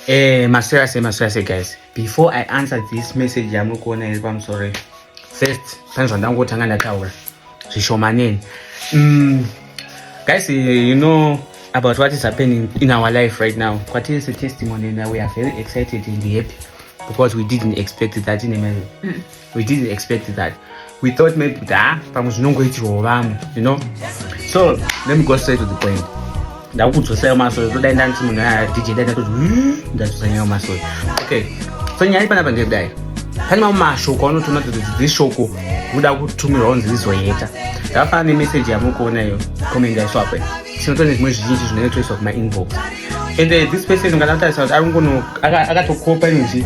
Eh, maseriously, maseriously guys. Before I answer this message yamuri kuona iri pamusoro first pane zvandangotanga ndataura zvishomaneni mm, guys you know about what is happening in our life right now kwatiri setestimony and we are very excited and happy because we didn't expect that in a mm. we didn't expect that we thought maybe kuti ha ah, pamwe zvinongoitirwawo vamwe you know so let me go straight to the point ndakukudzosaiwo masoyo todai ndanti munhu aya dj dai ndatozi hmm, ndadzosanyaiwo masoyo okay so nyaya ipanapa ndekudai pane mamwe mashoko anotoona kuti dzi shoko kuda kutumirwa kunzi rizoyeta ndakafana nemeseji yamukuona iyo comment yaiswapo tinoto nezvimwe zvizhinji zvinoitoiswa kumainbox and uh, this person nganatarisa kuti ari kungono akatokopa inzi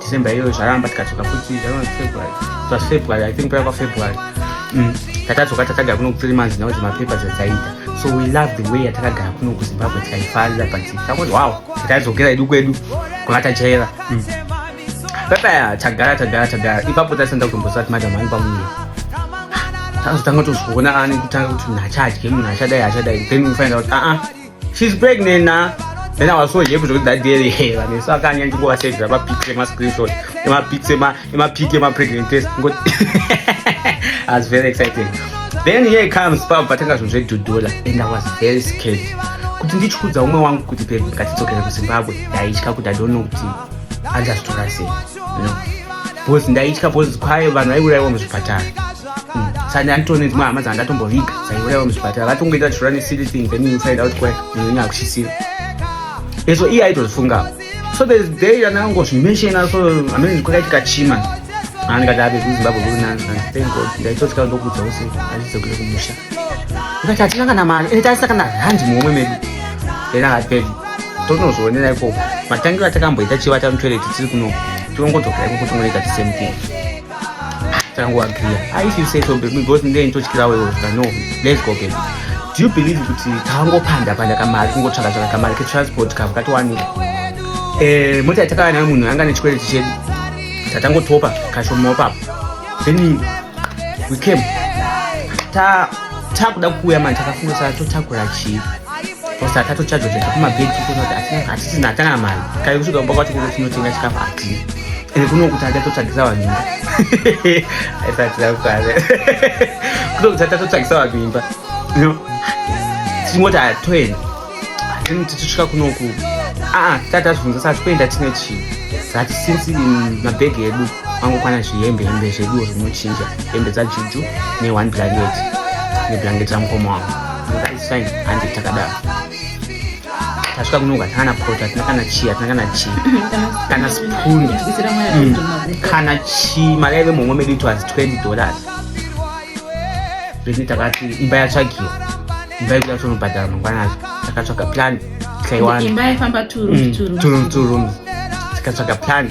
December iyoyo zvaramba tikadzoka futi February plus February I think paiva February mm. takadzoka takagara kuno kuthree months now zvemapepa zvadzaita so we love the way yatakagara kuno kuzimbabwe tikaifarira but takuti wow takaidzokera idu kwedu kwanga tajaira mm. pepaya tagara tagara tagara ipapo taisanda kutomboziva kuti madam ani pamuye tazotanga tozviona ani kutanga kuti munhu achadye munhu achadai achadai then unofanira kuti aa ah, ah. She's pregnant na. Then I was so happy to that day. Hey, I mean, so I can't even go and say grab a picture, my screenshot, my picture, my my picture, my pregnant test. Good. I was very excited. Then here comes Papa Patanga from Zwe Dudula, and I was very scared. Kuti ndichikudza umwe wangu kuti babe ngatidzokere kuZimbabwe ndaitya kuti I don't know kuti andazitora sei. You know? Because ndaitya because kwaye vanhu vaiurayiwa muzvipatara. sandanditowo nedzimwe hama dzandatomboviga dzaiurayiwa muzvipatara vatongoita vachirora nesily thing then you find out kwayo nenyaya kushisira ezvo iye aitozvifungawo so there's day yanangozvimenshena so amene kwakaitika chima andikati ave kuzimbabwe kuri nani thank god ndaitosika ndokudza use achidzokere kumusha ndikati hatina kana mari ende taisa kana handi muhomwe medu then akati pedi tonozvionera ikoko matangiro atakamboita chivata mutoilet tiri kuno tirongodzokera ikoko tongoita the same thing tangu agriya aisi you say so baby because ndee nditotyirawo iwo zvika no let's go baby do you believe kuti tangopanda panda kamari kungotsvaka tsvaka kamari ketransport kavo katowanika eh, mota yatakava nayo munhu anga nechikwereti chedu tatangotopa kashomawo papo then we came ta takuda kuuya mani takafunga saa totakura chii kosa tatochajwa chatakumabhegi tikuona kuti hatisina hatana mari kaikusvika kumba kwacho kuno tinotenga chikafu hatii Ende kuno kuti achatotsvagisa vanhu imba aisatira kukwana kuno kuti achatotsvagisa vanhu imba tichingoti hatoenda then tichisvika kunoku aa tati tazvibvunza sati kuenda tine chii zati since mabhegi edu angokwana zvihembe hembe zveduo zvinochinja hembe dzajuju ne one blanket neblanket ramukoma wangu ndakaisfine handi takadaro tasvika kuno hatina kana poto hatina kana chii hatina kana chii kana spuni mm. kana chii mari yaive muhomwe medu it was 20 dollars zvetinei takati imba yatsvagiwa imba yekuda kutonobhadhara mangwanazvo takatsvaga plan tikaiwana imba yaifamba two rooms mm, two rooms tikatsvaga plan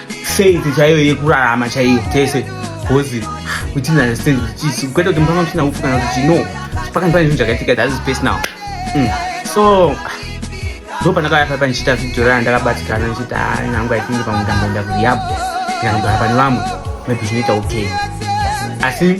faith chaiyo yekurarama chaiyo tese bcause within understand kuti kwete kuti mutanga muchina upfu kana kuti no pakani pane zvinhu zvakaitika that is personal mm. so ndo pandakauya paipa ndichiita video rana ndakabatikana ndichiti ah, nyangu aithingi pamwe ndamboenda kuriyabho ndikangogara pane vamwe maybe zvinoita okay asi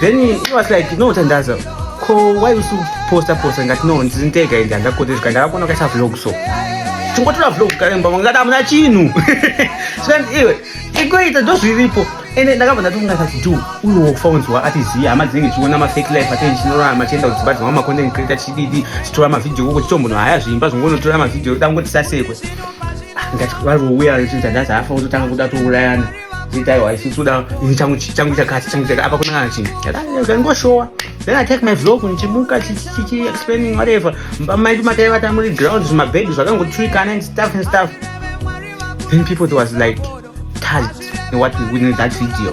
then he was like no tandaza ko why usu posta posta ngati no ndiri ndega ende handakotezuka ndakakuona kaisa vlog so tingotora vlog karemba ngati hamuna chinhu zvikanzi iwe ikoita ndozviripo ende ndakabva ndatonga kati do uyo wofa unzwa ati ziya hama dzinenge chiona mafake life atei chinorara machienda kudzimba dzimwa macontent creator chididi chitora mavhidhio koko chitombono haya zviimba zvongonotora mavhidhio dangoti sasekwe ah, ngati vari vouya ndati hafa kutotanga kuda tourayana Itaiwa isusu da changu changu chakati changu chakati apa kuna chi. Ngoshowa. Then I take my vlog nichimuka chichi explaining whatever. Mai matai vata muri ground zvima bed zvakangotswikana and stuff and stuff. Then people was like touched in what we witnessed that video.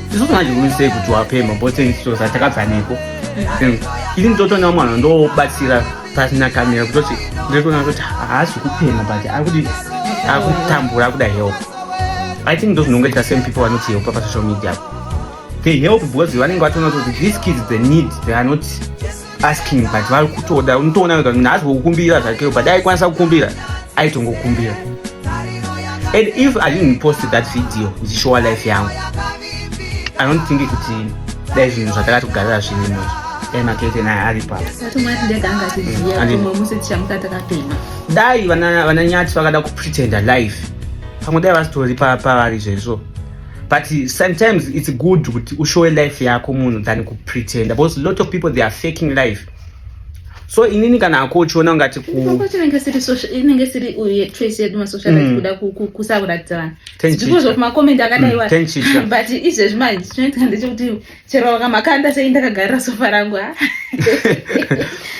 isusu manje unisei kuti wapemha boteni so zatakabva neko ini nditotoona mwana ndobatsira pasina kamera kutoti nditoona kuti haasi kupemha but akuti akutambura akuda help i think ndo zvinonge ita same people vanoti help pasocial media they help because vanenge vatoona kuti these kids they need they are not asking but vari kutoda unotoona wega munhu haasi kukumbira zvakeo but aikwanisa kukumbira aitongokumbira and if i didn't post that video ndichishowa life yangu i don't think kuti dai zvinhu zvatakati kugarira zvinhu izvi dai makete naye ari papo dai vananyati vakada kupretenda life pamwe dai vasitori pavari zvezvo but sometimes it's good kuti ushowe life yako munhu than kupretenda because lot of people they are faking life so inini kana ako uchiona ungati kuinenge siri uye choice yedu masocial life mm. kuda kusakuratidza vanhu because of macoment akadaiwa mm, but izvezvi manje chinoitika ndechekuti chero vakamakanda sei ndakagarira sofa rangu ah.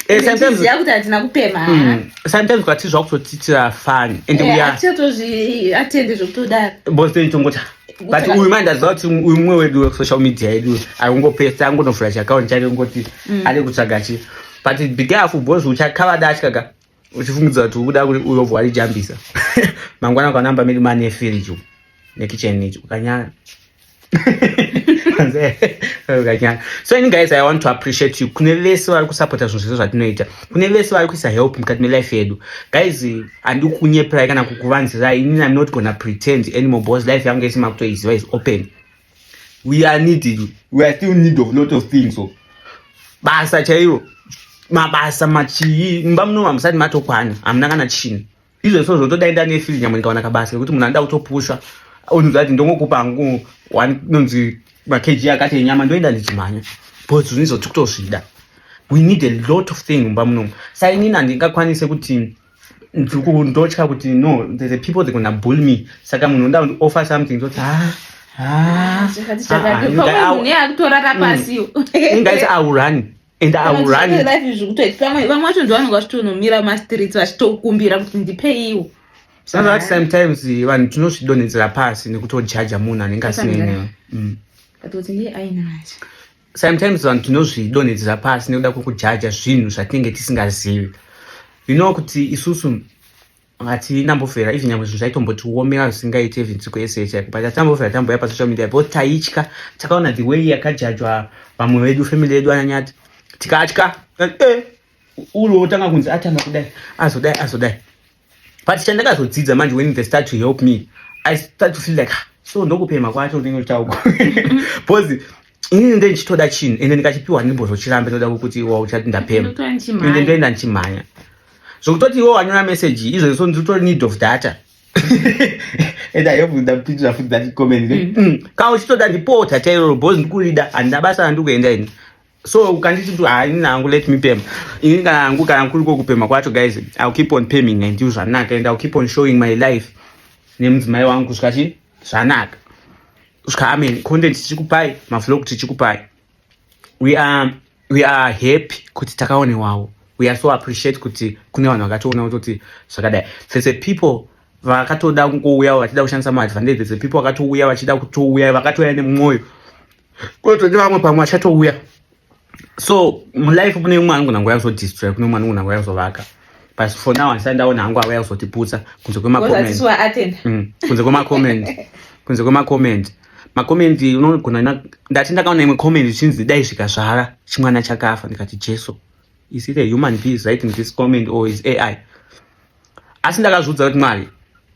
eh, ziva kuti hatina kupema ah. hmm. sometimes kwati zvakutotiitira fani and eh, uyaatende zvekutodaro bose tongoti but uyu mai ndaziva kuti uyu mumwe wedu wesocial media yedu akungopesa angonovhura chiakaunti chake ngoti hmm. ari kutsvaga chi but bigafu bos uchakavada achikaga uchifungidza kuti ukuda kuti uyo vwarijambisa mangwana ukanamba miri mani yefiriji nekicheni ichi ukanyara ukanyara so ini guys i want to appreciate you kune vese vari kusapota zvinhu zvese zvatinoita kune vese vari kuisa help mukati melife yedu guys handii kunyeperai kana kukuvanzirai inini i'm not gonna pretend anymore because life yangu yese makutoiziva is open we are needed we are still need of lot of things so basa chairo mabasa machii mumba muno mamusati matokwana hamuna kana chini izvo so zvotoda enda nefiri nyamwe ndikawana kabasa kekuti munhu anoda kutopusha onzwa kuti ndongokupa hangu nonzi makeji akati enyama ndoenda ndichimhanya but zvinhu izvo tikutozvida we need a lot of thing mumba munomu sainini handingakwanise kuti ndotya kuti no the people they gonna bull me saka munhu nda undi offer something zoti ha ah, ah, ah, mm. ingaisa aurani and auranivae vacho ndovanonga vachitonomira mastreets vachitokumbira kuti ndipeiwo saka that sometimes eh, vanhu tinozvidonhedzera pasi nekutojaja munhu anenge asinenewe mm. sometimes vanhu tinozvidonhedzera pasi nekuda kwekujaja zvinhu zvatinenge tisingazivi you know kuti isusu hatina mbofera even nyamwe zvinhu zvaitombotiomera zvisingaite even siku yese yese but hatina mbofera tamboya pasocial media because taitya takaona the way yakajajwa vamwe vedu family yedu ananyati tikatya eh, eh, ulo otanga kunzi atanga kudai azodai azodai but chandakazodzidza manje when they start to help me i start to feel like ah, so ndokupema kwacho ndinenge uchitauko because inini nde ndichitoda chinhu ende ndikachipiwa ndimbozochirambe ndoda kuti wa uchati ndapema ende ndoenda ndichimhanya zvokutoti iwo wanyora message izvozvi so ndiri kutori need of data and i hope ndapindira futi that comment mm. mm. ka uchitoda ndipota chairoro because ndikurida handina basa randikuenda ini so ukanditi mntu hainini hangu let me pema ini kana hangu kana kuriko kupema kwacho guys ill keep on peming and you zvanaka and ill keep on showing my life nemudzimai wangu kusvika chii zvanaka kusvika amen content tichikupai mavlog tichikupai we are, we are happy kuti takaonewawo we are so appreciate kuti kune vanhu vakatoona kutoti zvakadai there's a people vakatoda kungouya vachida kushandisa maadvantage there's a people vakatouya vachida kutouya vakatouya nemwoyo kunotode vamwe pamwe vachatouya so mulife kune umwe anogona nguva yakuzodistroy kune umwe anogona nguva yakuzovaka but for now andisati ndaona hangu ava yakuzotiputsa kunze kwemacoment mm, kunze kwemacoment kunze kwemacoment macoment unogona ndati ndakaona imwe comment ichinzi dai zvikazvara chimwana chakafa ndikati jesu is it a human being writing this comment or is ai asi ndakazviudza kuti mwari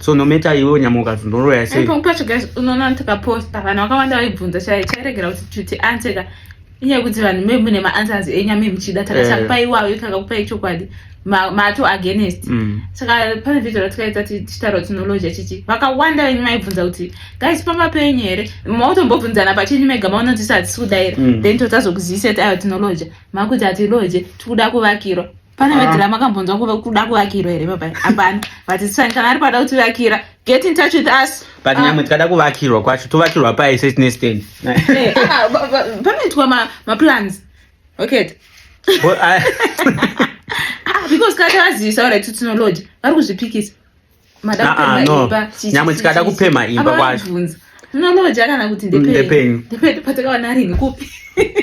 so no matter iwe unyama ukazi ndoroya sei pamwe pacho guys unoona ndikaposta vanhu vakawanda vaibvunza chai chairegera kuti chuti anseka inyaya yekuti vanhu me mune maanswers enya me muchida takachakupai eh. iwayo takakupai chokwadi mato against mm. saka pane video ratikaita tichitaura tinology chichi vakawanda venyu maibvunza kuti guys pamba penyu here mautombobvunzana pachenyu mega maona tisi hatisi kudaira mm. then totazokuzivisa ti ayo tinology makuti hatiloje tikuda kuvakirwa pane ah. vedhirama akambonzwa kuve kuda kuvakirwa here baba hapana but it's fine kana ari pada kuti vakira get in touch with us but ah. nyamwe tikada kuvakirwa kwacho tovakirwa paye setine stand eh, ah, panoitwa maplans okay because kana tavazivisa ora kuti tinolodya vari kuzvipikisa Ah, ah, nyamwe tikada kupemha imba kwacho munonoja kana kuti ndependepatakawana rinhi kupi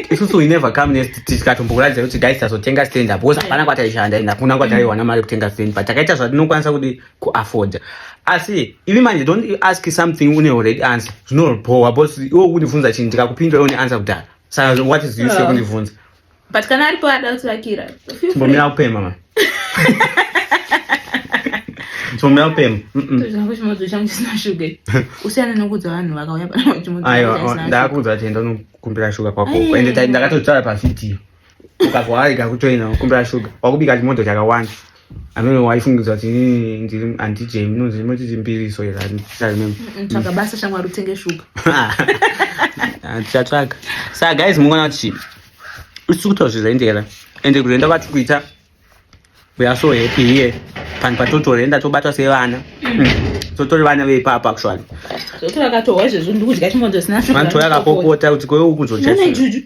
isusu we never come nest tikatombokuratidza kuti guys tazotenga stand up because hapana kwataishanda and hakuna kwataiwana mari yekutenga stand but takaita zvatinokwanisa kuti kuafforda asi ivi manje don't ask something une already answer zvinobhowa bcause iwe kundifunza chinhu ndikakupindura une answer kudhara saka what is use ah. yekundibvunza but kana aripo ada kutivakira timbomira kupema ma timbomira kupema zvangu chimodzi changu chisina shuga usiyana nokudza vanhu vakauya panaaiwa ndakudza kuti enda unokumbira shuga kwako ende ndakatotaura pavhidhiyo ukazwa arega kutoina kumbira shuga wakubika chimodzi chakawanda anove waifungidza kuti ndiri handijei munonzi imoti chimbiriso here handisatsvaga basa shamwari utenge shuga handichatsvaga saka guys mungoona kuti chii usisi kutaura zvizaendera ende kuzoenda vati kuita we are so happy here panhu patotorenda tobatwa sevana totori vana veipapa actually vanhu toyakapopota kuti kwewe ukuzochee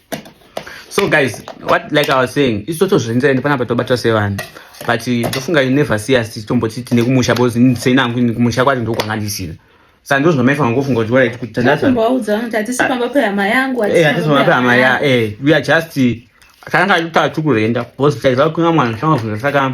so guys what like i was saying isu totozvenzera ende panapa tobatwa sevanhu but tofunga you never see us tichitomboti tine kumusha because seinangu ini kumusha kwacho ndokwanga ndisina sa ndo zvinomaifa ngokufunga kuti waraiti kuti tandaatisipamba pehama yangu atisipamba pehama ya eh we are just takanga tataura tikurenda because taiziva kuinga mwana saka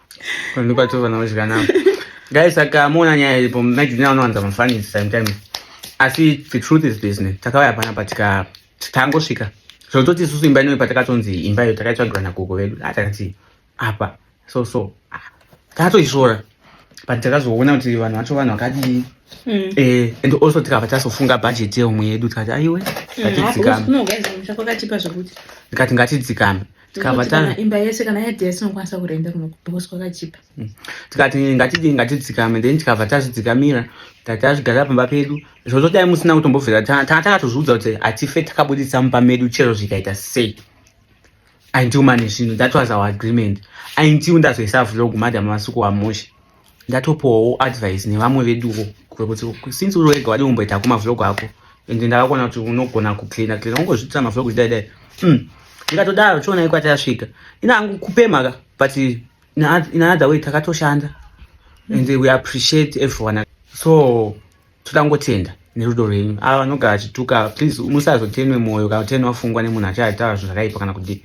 Kwandu pato vana wezikana. Guys, saka mona nyaya ilipo mnaiti nina wanowanza mafani sometimes. Asi the truth is this ne. Takawaya pana patika tangosvika. So toti susu imba inoyo patakatonzi imba iyo takaitsvagirwa na gogo vedu. Atakati ah, apa so so. Ah, Takatoisvora. But takazoona kuti vanhu vacho vanhu vakadii. Mm. Eh, and also tikabva tazofunga budget yeumwe yedu tikati aiwe. Mm, ah, ngatidzikame. Ndikati ngatidzikame. tikabva imba yese kana yadhi yese unokwanisa kurenda kuno because kwakachipa mm. tikati ngatidii ngatidzikame then tikabva tazvidzikamira tati tazvigara pamba pedu zvozo dai musina kutombobvira tanga takatozviudza kuti hatife takabudisa mumba medu chero zvikaita sei aintiumane zvinhu that was our agreement aintiu ndazoisa vlog madam masuku wamushe ndatopowo advice nevamwe veduwo kuti since uri wega wadi kumboita ako mavlog ako and ndakakuona kuti unogona kucleana cleana ungozvitira mavlog zvidai dai hmm. ndikatodaro chiona iko atayasvika ina hangu kupema ka but in another way takatoshanda and we appreciate everyone so toda kungotenda nerudo rwenyu ava vanogara achituka please musazotenwe mwoyo kana kuteni wafungwa nemunhu achaitaura zvinhu zvakaipa kana kudii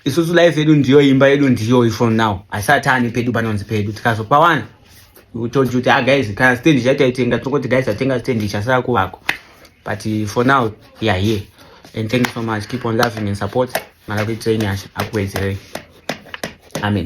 isusu life yedu ndiyo imba yedu ndiyoyi from now asati ani pedu panonzi pedu tikazopawana told kuti ah guys kana stand chataitenga tokoti guys atenga stand chasara kuvako but eh, for now we are here and thank you so much keep on loving and support mara kuitirei nyasha akuwedzerei amen